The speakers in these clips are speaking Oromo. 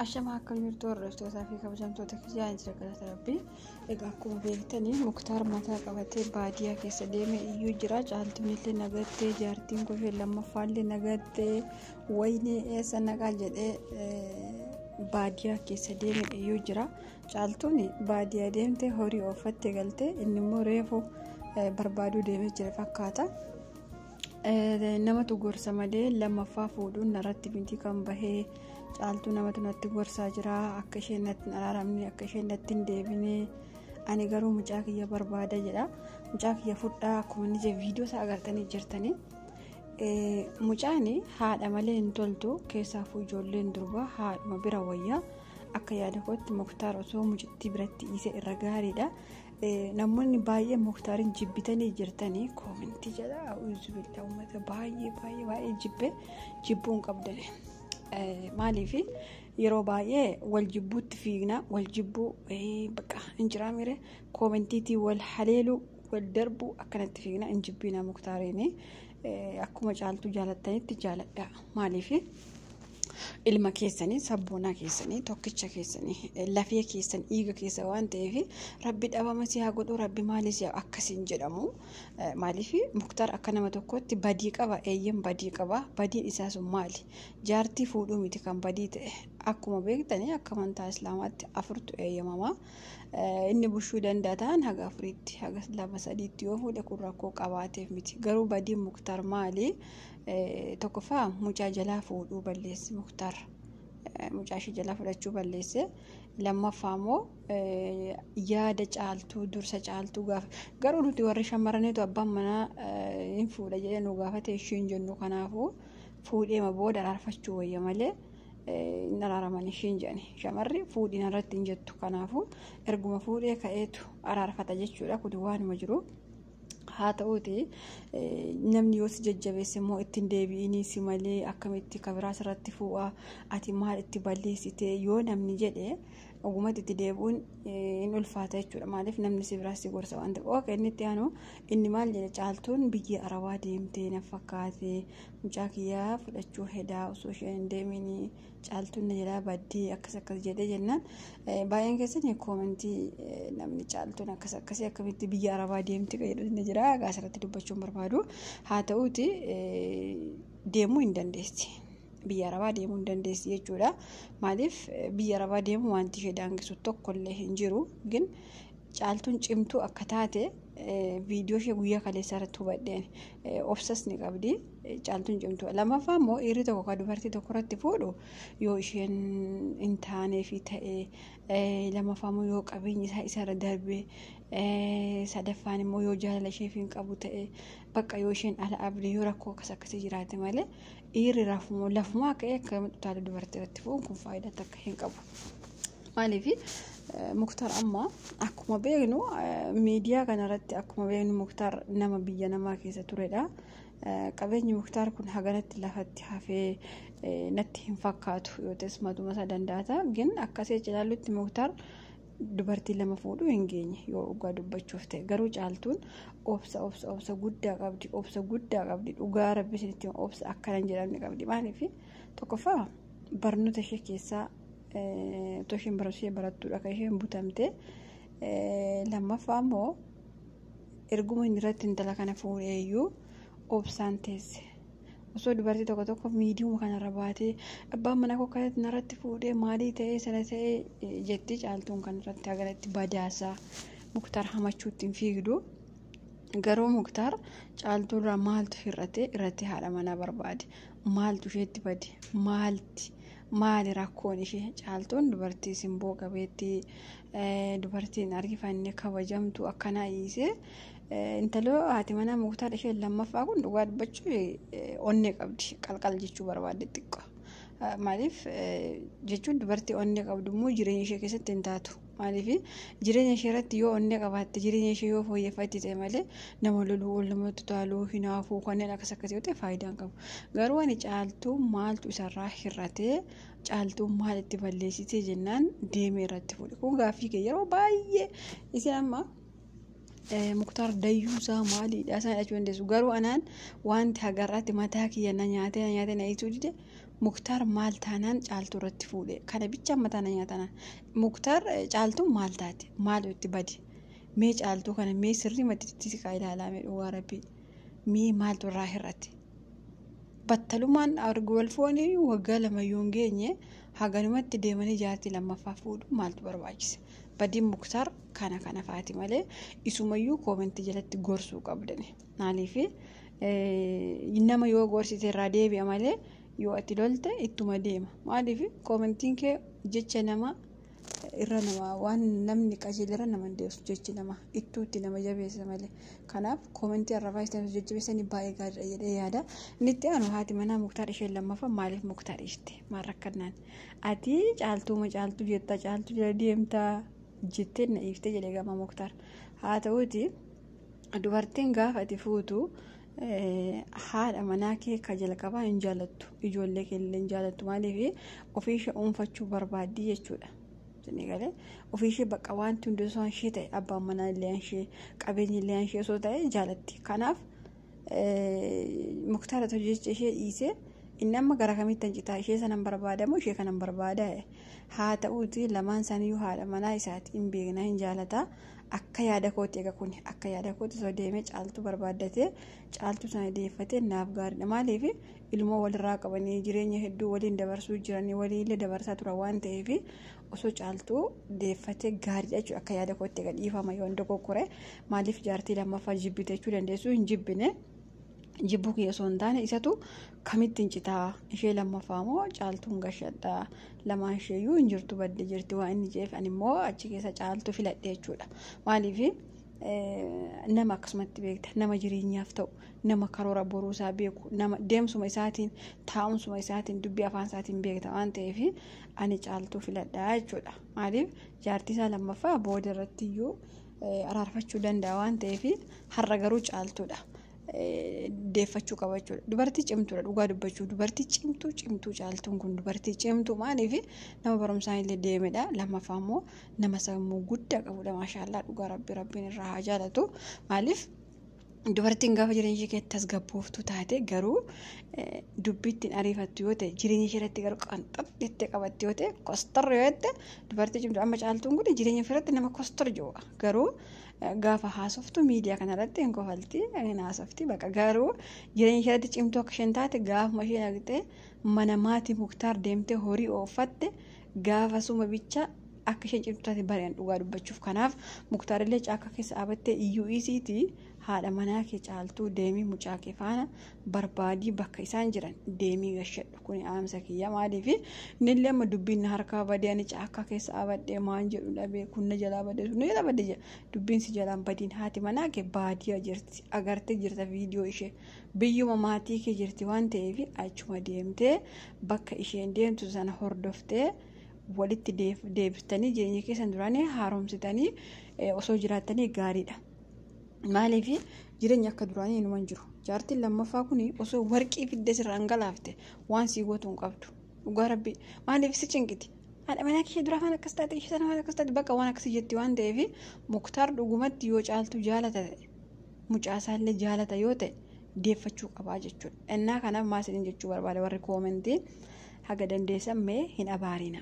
Ashamaa akka jirtu hordoftoota fi kabajamtoota kiyyaa jira galata rabbii. Egaa akkuma beektanii muktaar mataa qabatee baadiyyaa keessa deeme iyyuu jira. Caaltuun illee nagattee jaartiin kushee lammaffaa illee nagattee wayinee eessa naqaa jedhee baadiyyaa keessa deeme iyyuu jira. Caaltuun baadiyyaa deemtee horii ooffattee galtee inni immoo reefu barbaaduu deemee jira fakkaata. Namatu gorsa malee lammaffaa fuudhuun narratti miti kan bahee caaltuu namatu natti gorsaa jira akka isheen natti hin araaramne akka isheen natti hin deebine ani garuu mucaa kiyya barbaada jedha mucaa kiyya fudhaa akkuma inni jedhe viidiyoo isaa agartanii jirtanii mucaan haadha malee hin toltu keessaafuu ijoolleen durbaa haadhuma bira wayyaa akka yaada kootti muktaar osoo mucittii biratti dhiise irra gaariidha Namoonni baay'ee muktaarin jibbitanii jirtanii koomintii jala uwwisu bildaa uummata baay'ee baay'ee baay'ee jibbe jibbuu hin qabdan. Maaliif yeroo baay'ee wal jibbuutti fiigna wal jibbuu bakka hin jiraa miire koomintiitii wal haleeluu wal darbuu akkanatti fiigna hin jibbiina muktaariin akkuma caaltuu jaalattanitti jaaladha. Maaliif ilma keessanii sabboonaa keessanii tokkicha keessanii lafee keessan dhiiga keessa waan ta'eef rabbi dhabama si haa godhu rabbi maali si akkasiin jedhamu maaliif muktaar akka nama tokkotti badii qaba eeyyen badii qaba badiin isaa sun maali jaartii fuudhuu miti kan badii ta'e akkuma beektanii akka amantaa islaamaatti afurtu eeyyamama inni bushuu danda'a ta'an haga afuriitti haga lama sadiitti yoo fuudhe kun rakkoo qabaateef miti garuu badiin muktaar maali Tokkoffaa mucaa jalaa fuudhuu balleesse Muktaar. Mucaa ishee jalaa fudhachuu balleesse. Lammaffaa immoo yaada caaltuu dursa caaltuu gaafa. Garuu nuti warri shamarraniitu abbaan manaa hin fuudha jedhee nu gaafate ishee hin jennu kanaafuu fuudheema booda araarfachuu wayya malee hin araaraman ishee hin jedhani. Shamarri fuudhiin irratti hin jettu kanaafuu erguma fuudhee ka'eetu araarfata jechuudha kun waanuma jiru. haa ta'uuti namni yoo si jajjabeesse immoo ittiin deebi'inii si malee akkamitti kabiraas irratti fuu'a ati maal itti balleessite yoo namni jedhe ogumatti itti deebi'uun hin ulfaata jechuudha maaliif namni si biraas si gorsa waan ta'eef ok inni itti aanu inni maal jedhe caaltuun biyya arabaa deemtee na fakkaate mucaa kiyyaa fudhachuu hedaa osoo isheen hin deeminii caaltuun na jalaa baddee akkas akkas jedhee jennaan baay'een keessan koomentii namni caaltuun akkas akkasii akkamitti biyya arabaa deemti jedhu ni jira gaas irratti dubbachuu hin barbaadu haa ta'uuti deemuu hin dandeessi biyya arabaa deemuu hin dandeessi jechuudha maaliif biyya arabaa deemuu wanti ishee daangisu tokkollee hin jiru gin caaltuun cimtuu akka taate viidiyoo ishee guyyaa kaleessaa irratti hubadheen obsas ni qabdi Caaltuun cimtuu. Lammaffaa immoo dhiirri tokko kan dubartii tokko irratti fuudhu yoo isheen hin taanee fi ta'ee lammaffaa immoo yoo qabeenyi isaa isarra darbee sadaffaan immoo yoo jaalala isheef hin qabu ta'ee bakka yoo isheen ala abdii yoo rakkoo akkas akkasii jiraate malee dhiirri rafumoo lafumoo akka akka utaala dubartii irratti fuudhuun kun faayidaa takka hin qabu. Maaliif muktar amma akkuma beeknu miidiyaa kanarratti akkuma beeknu muktar nama biyya namaa keessa turedha. Qabeenyi Muktaar kun haganatti lafatti hafee natti hin fakkaatu yoo ta'es matuma isaa dandaata. Gin akkasii cilaallutti Muktaar dubartii lama fuudhuu hin geenye yoo dhugaa dubbachuuf ta'e garuu caaltuun obsa obsa obsa guddaa qabdi obsa guddaa qabdi dhugaa rabbi isinitti obsa akkana hin jedhamne qabdi maaliif tokkoffaa barnoota ishee keessaa otoo isheen barnoota ishee barattuudha kan isheen butamte lammaffaa immoo erguma inni irratti intala kana fuudhee iyyuu obsaan teesse. Osoo dubartii tokko tokko miidiyuma kanarra baatee abbaan manaa koo kanatti narratti fuudhee maalii ta'ee sana ta'ee jetti caaltuun kanarratti hagalatti badaasaa muktaar hamachuutti hin fiigdu. Garuu muktaar caaltuurraa maaltu hir'ate irratti haadha manaa barbaade maaltu isheetti bade maalti maali rakkoon ishee caaltuun dubartii simboo qabeettii. Dubartiin argifanne kabajamtu akkanaa dhiisee intaloo haati manaa muktaar isheen lammaffaa kun dhugaa dubbachuu onnee qabdi qalqal jechuu barbaadde xiqqoo. Maaliif jechuun dubartii onnee qabdu immoo jireenya ishee keessatti hin taatu. Maaliif jireenya ishee irratti yoo onnee qabaatte jireenya ishee yoo fooyyeffatte ta'e malee nama loluu ol namatti taaluu hinaafuu kanneen akkas akkasii yoo ta'e faayidaa hin qabu. Garuu ani caaltuu maaltu isarraa hir'atee Caaltuun maal itti balleessitee jennaan deemee irratti fuudhe. Kun gaaffii kee yeroo baay'ee isin amma eh, muktaar dayyuusaa maaliidha isaan jedhachuu dandeessu. Garuu anaan wanti hagarraatti mataa kiyya na nyaatee na nyaatee na hiisuu dide muktaar maal taanaan caaltuu irratti fuudhe. Kana bichaan mataa na nyaatanaan. Muktaar eh, caaltuun maal taate maal itti bade. Mee caaltuu kana mee sirrii matti itti siqaa ilaalaa mee dhugaa rabbii. Mee maaltu irraa hir'ate. battalumaan argu wal fuudhanii waggaa lama yoo hin geenye haganumatti deemanii jaartii lammaffaa fuudhu maaltu barbaachise badiin muktaar kana kana faati malee isumayyuu koomentii jalatti gorsuu qabdani maaliif nama yoo gorsite irraa deebi'a malee yoo ati lolte ittuma deema maaliif koomentiin kee jecha nama irra nama waan namni qajeelera nama hin deebisu jechi nama ittuutti nama jabeessa malee kanaaf koomentii arrabaa isaan jajjabeessanii baay'ee gaariidha jedhee yaada inni itti aanu haati manaa muktaar isheen lammaffaa maaliif muktaar ishte maal rakkannaan ati caaltuuma caaltuu jettaa caaltuu jala deemtaa jettee na iiftee jedhee gama muktaar haa ta'uuti dubartiin gaafa ati fuutu haadha manaa kee ka jalqabaa hin jaalattu ijoollee kee illee hin jaalattu maaliif ofii ishee dhuunfachuu barbaaddi jechuudha. Isin eegalee ofii ishee bakka wanti hundi osoo ishee ta'e abbaan manaa illee ishee qabeenyi illee ishee osoo ta'e jaalatti. Kanaaf muktaara ta'u jecha ishee dhiisee inni amma gara kamitti hancitaa ishee sanan barbaadamu ishee kanan barbaada haa ta'uuti lamaan isaaniyyuu haadha manaa isaati hin beekna hin jaalataa. akka yaada kooti egaa kun akka yaada kooti osoo deemee caaltuu barbaaddatee caaltuu sana deeffatee naaf gaariidha maaliif ilmoo walirraa qabanii jireenya hedduu waliin dabarsuu jiranii waliillee dabarsaa tura waan ta'eef osoo caaltuu deeffatee gaariidha jechuudha akka yaada kooti egaa dhiifama yoon dogoggore maaliif jaartii lammaffaa jibbite jechuu dandeessu hin jibbine. jibbuu kiyya osoo hin taane isatu kamitti hin citaa ishee lammaffaa moo caaltuun gashadha lamaan isheeyyuu hin jirtu badde jirti waan inni jeef ani immoo achi keessa caaltu filadhe jechuudha maaliif nama akkasumatti beekta nama jireenyaaf ta'u nama karoora boruu isaa beeku nama deemsuma isaatiin taa'umsuma isaatiin dubbii afaan isaatiin beekta waan ta'eef ani caaltuu filadhaa jechuudha maaliif jaartii isaa lammaffaa booda irratti iyyuu araarfachuu danda'a waan ta'eef har'a garuu caaltuudha. deeffachuu qaba jechuudha. Dubartii cimtuudha dhugaa dubbachuu dubartii cimtuu cimtuu caaltuun kun dubartii cimtuu maaliif nama barumsaan illee deemedha lammaffaa immoo nama sammuu guddaa qabudha maashaallah dhugaa rabbi rabbiin irraa haa jaalatu maaliif Dubartiin gaafa jireenya ishee keessatti tasgabbooftuu taate garuu dubbii ittiin ariifattu yoo ta'e jireenya ishee irratti garuu qanxab jettee qabatte yoo ta'e kostorri yoo ta'e dubartii cimtu amma caaltuun kun jireenya ishee irratti nama kostorri jiru garuu gaafa haasoftu miidiyaa kana irratti hin kofalti hin haasofti baqa garuu jireenya ishee irratti cimtuu akka isheen taate gaafuma isheen argite mana maatii muktaar deemtee horii ooffatte gaafasuma bicha akka isheen cimtu taate bari'an dhugaa dubbachuuf kanaaf muktaarillee caakka keessa dhaabattee iyyuu isiiti haadha manaa kee caaltuu deemii mucaa kee faana barbaadii bakka isaan jiran deemii gashadhu kun aamsa kiyya maaliif innillee amma dubbiin na harkaa badee ani caakka keessa dhaabadhee maan jedhu dhabee kun na jalaa badee sun na jalaa badee jedha dubbiin si jalaan badiin haati manaa kee baadiyaa jirti agartee jirta viidiyoo ishee. Biyyuma maatii kee jirti waan ta'eef achuma deemtee bakka isheen deemtu sana hordoftee walitti deebistanii jireenya keessan duraanii haaromsitanii osoo jiraattanii gaariidha. Maaliif jireenya akka duraanii inuma hin jiru. Jaartiin lammaffaa kun osoo warqii fidde sirraan galaafte waan sii gootu hin qabdu. Dhugaa rabbi maaliif si cinqiti? Haadha manaa kee duraa waan akkas taate ishee sana waan akkas taate bakka waan akkasii jetti waan ta'eef muktaar dhugumatti yoo caaltu jaalata ta'e. mucaa isaallee jaalata yoo ta'e deeffachuu qabaa jechuudha. Ennaa kanaaf maa isiniin jechuu barbaada warri koomentii haga dandeessan mee hin abaarina.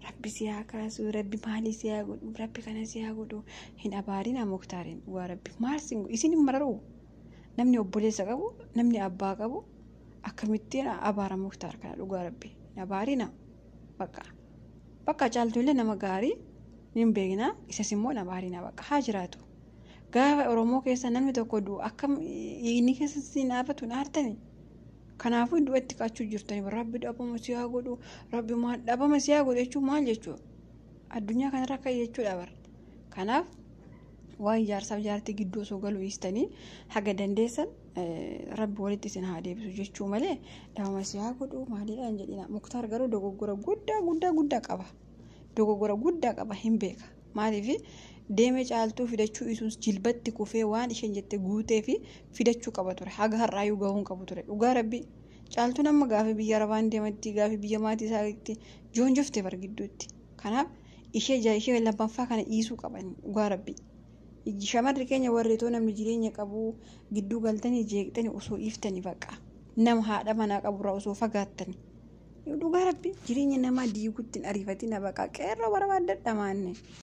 Rabbi si haa kaasu, rabbi maalii si haa godhu, rabbi kana si haa godhu. Hin abaarina muktaariin dhugaa rabbi maal sin godhu isin hin mararuu. Namni obboleessa qabu, namni abbaa qabu akkamittiin abaara muktaar kana dhugaa rabbi hin abaarina. Bakka bakka caaltuullee nama gaarii hin beekna isas immoo hin abaarina bakka haa jiraatu. Gaafa Oromoo keessa namni tokko du'u akkam dhiigni keessa siin dhaabatu hin aartani. Kanaafuu du'a itti kaachuu jirtani rabbi dhabama si haa godhu rabbi maal dhabama si haa godhu jechuun maal jechuudha. Addunyaa kanarra akka jechuudha bara. Kanaaf waan ijaarsaaf ijaartii gidduu osoo galuu dhiistanii haga dandeessan rabbi walitti isin haa deebisu jechuu malee dhabama si haa godhu maaliidhaan jedhina. Muktaar garuu dogoggora guddaa guddaa guddaa qaba. Dogoggora guddaa qaba hin beeka. Maaliif deemee caaltuu fidachuu isuus jilbatti kufee waan isheen jette guutee fi fidachuu qaba ture. Haga har'aayyuu gahuun qabu ture. Dhugaa rabbii caaltuun amma gaafii biyya arabaan deematti gaafii biyya maatii isaatti joonjofte bar gidduutti. Kanaaf ishee ja ishee lammaffaa kana dhiisuu qaban dhugaa rabbii. Shamarri keenya warri too namni jireenya qabu gidduu galtanii jeeqxanii osoo dhiiftanii baqa. Nama haadha manaa qaburraa osoo fagaattanii. Dhugaa rabbii jireenya namaa diiguutti hin ariifatina baqa qeerroo barbaaddadha maanne.